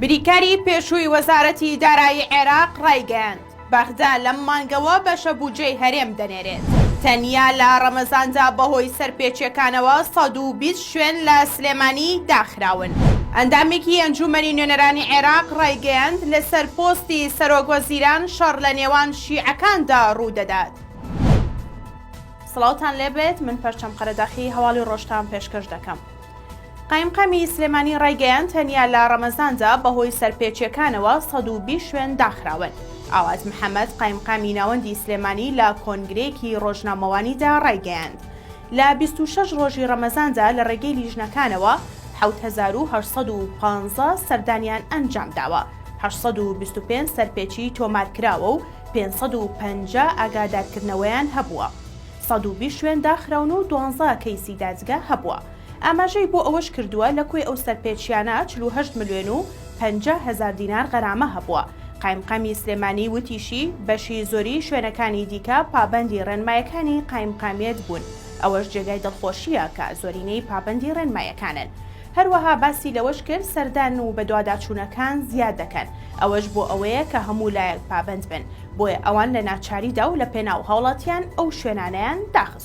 بریکاری پێشووی وەزارەتی دارایی عێراق ڕایگەیاند، بەغدا لەم مانگەوە بەشە بودجەی هەرێم دەنێرێت. تەنیا لە ڕەمەزاندا بەهۆی سەرپێچیەکانەوە سەد و بیست شوێن لە سلێمانی داخراون. ئەندامێکی ئەنجوومەنی نوێنەرانی عێراق ڕایگەیاند، لەسەر پۆستی سەرۆکوەزیران شەڕ لە نێوان شیعەکاندا ڕوودەدات. سڵاوتان لێبێت من پەرچەم قەرەداخی هەواڵی ڕۆژتان پێشکەش دەکەم. قایمقامی سلێمانی ڕایگەیاند تەنیا لە ڕەمەزاندا بەهۆی سەرپێچیەکانەوە سەد و بیست شوێن داخراون. ئاوات محەمەد قایمقامی ناوەندی سلێمانی لە کۆنگرەیەکی ڕۆژنامەوانیدا ڕایگەیاند لە بیست و شەش ڕۆژی ڕەمەزاندا لە ڕێگەی لیژنەکانەوە حەوت هەزار و هەشت سەد و پازدە سەردانیان ئەنجامداوە، هەشت سەد و بیست و پێنج سەرپێچیی تۆمارکراوە و پێنج سەد و پەنجا ئاگادارکردنەوەیان هەبووە. سەد و بیست شوێن داخراون و دوانزە کەیسی دادگا هەبووە. ئاماژەی بۆ ئەوەشکردووە، لە کۆی ئەو سەرپێچییانە چل و هەشت ملوێن و پەنجا هەزار دینار غەرامە هەبووە. قایمقامی سلێمانی وتیشی، بەشی زۆری شوێنەکانی دیکە پابەندی ڕێنمایەکانی قایمقامیەت بوون، ئەوەش جێگای دڵخۆشییە کە زۆرینەی پابەندی ڕێنمایەکانن. هەروەها باسی لەوەش کرد، سەردان و بەدواداچوونەکان زیاد دەکەن، ئەوەش بۆ ئەوەیە کە هەموو لایەک پابەند بن، بۆیە ئەوان لە ناچاریدا و لەپێناو هاوڵاتیان ئەو شوێنانەیان داخستووە.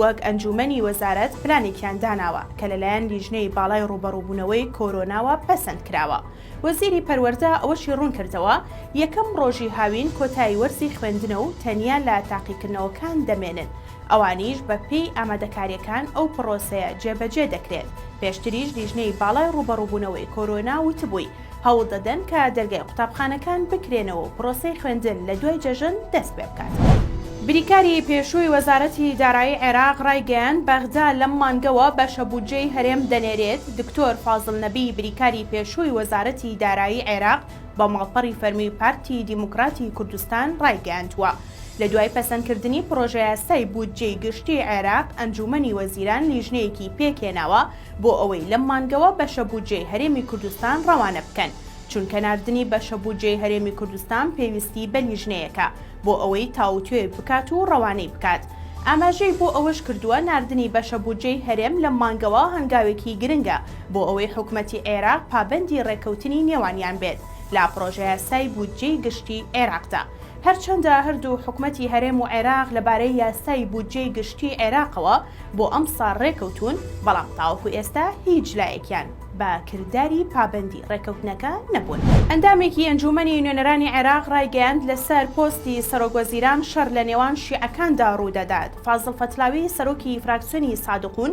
وەک ئەنجوومەنی وەزارەت پلانێکیان داناوە کە لەلایەن لیژنەی باڵای ڕووبەڕووبوونەوەی کۆرۆناوە پەسەند کراوە. وەزیری پەروەردە ئەوەشی ڕوون کردەوە، یەکەم ڕۆژی هاوین کۆتایی وەرزی خوێندنە و تەنیا لە تاقیکردنەوەکان دەمێنن، ئەوانیش بە پێی ئامادەکارییەکان ئەو پڕۆسەیە جێبەجێ دەکرێت، پێشتریش لیژنەی باڵای ڕووبەڕووبوونەوەی کۆرۆنا وتبووی، هەوڵ دەدەن کە دەرگای قوتابخانەکان بکرێنەوە و پرۆسەی خوێندن لە دوای جەژن دەست پێ بکات. بریکاری پێشووی وەزارەتی دارایی عێراق رایگەیاند، بەغدا لەم مانگەوە بەشە بودجەی هەرێم دەنێرێت، دکتۆر فازڵ نەبی بریکاری پێشووی وەزارەتی دارایی عێراق بە ماڵپەڕی فەرمی پارتی دیموکراتی کوردستان رایگەیاندووە، لە دوای پەسەندکردنی پڕۆژەیاسای بودجەی گشتی عێراق، ئەنجوومەنی وەزیران لیژنەیەکی پێکهێناوە، بۆ ئەوەی لەم مانگەوە بەشە بودجەی هەرێمی کوردستان ڕەوانە بکەن، چونکە ناردنی بەشە بودجەی هەرێمی کوردستان پێویستی بە لیژنەیەکە بۆ ئەوەی تاووتوێ بکات و ڕەوانەی بکات. ئاماژەی بۆ ئەوەش کردووە، ناردنی بەشە بودجەی هەرێم لەم مانگەوە هەنگاوێکی گرنگە بۆ ئەوەی حکومەتی عێراق پابەندی ڕێککەوتنی نێوانیان بێت لە پڕۆژەیاسای بودجەی گشتی عێراقدا. هەرچەندە هەردوو حکومەتی هەرێم و عێراق لەبارەی یاسای بودجەی گشتیی عێراقەوە بۆ ئەمساڵ رێککەوتوون، بەڵام تاوەکو ئێستا هیچ لایەکیان بە کرداری پابەندی رێککەوتنەکە نەبوون. ئەندامێکی ئەنجوومەنی نوێنەرانی عێراق رایگەیاند، لەسەر پۆستی سەرۆکوەزیران شەڕ لەنێوان شیعەکاندا روودەدات، فازڵ فەتلاوی سەرۆکی فراکسیۆنی سادقوون،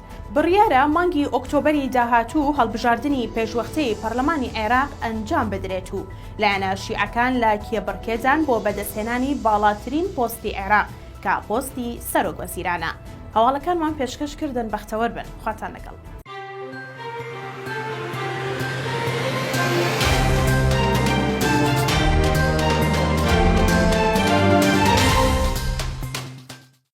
بڕیارە مانگی ئۆکتۆبەری داهاتوو هەڵبژاردنی پێشوەختەی پەڕلەمانی عێراق ئەنجام بدرێت و لایەنە شیعەکان لە کێبڕکێدان بۆ بەدەستهێنانی باڵاترین پۆستی عێراق کە پۆستی سەرۆک وەزیرانە. هەواڵەکانمان پێشکەش کردن بەختەوەر بن. خواتان لەگەڵ.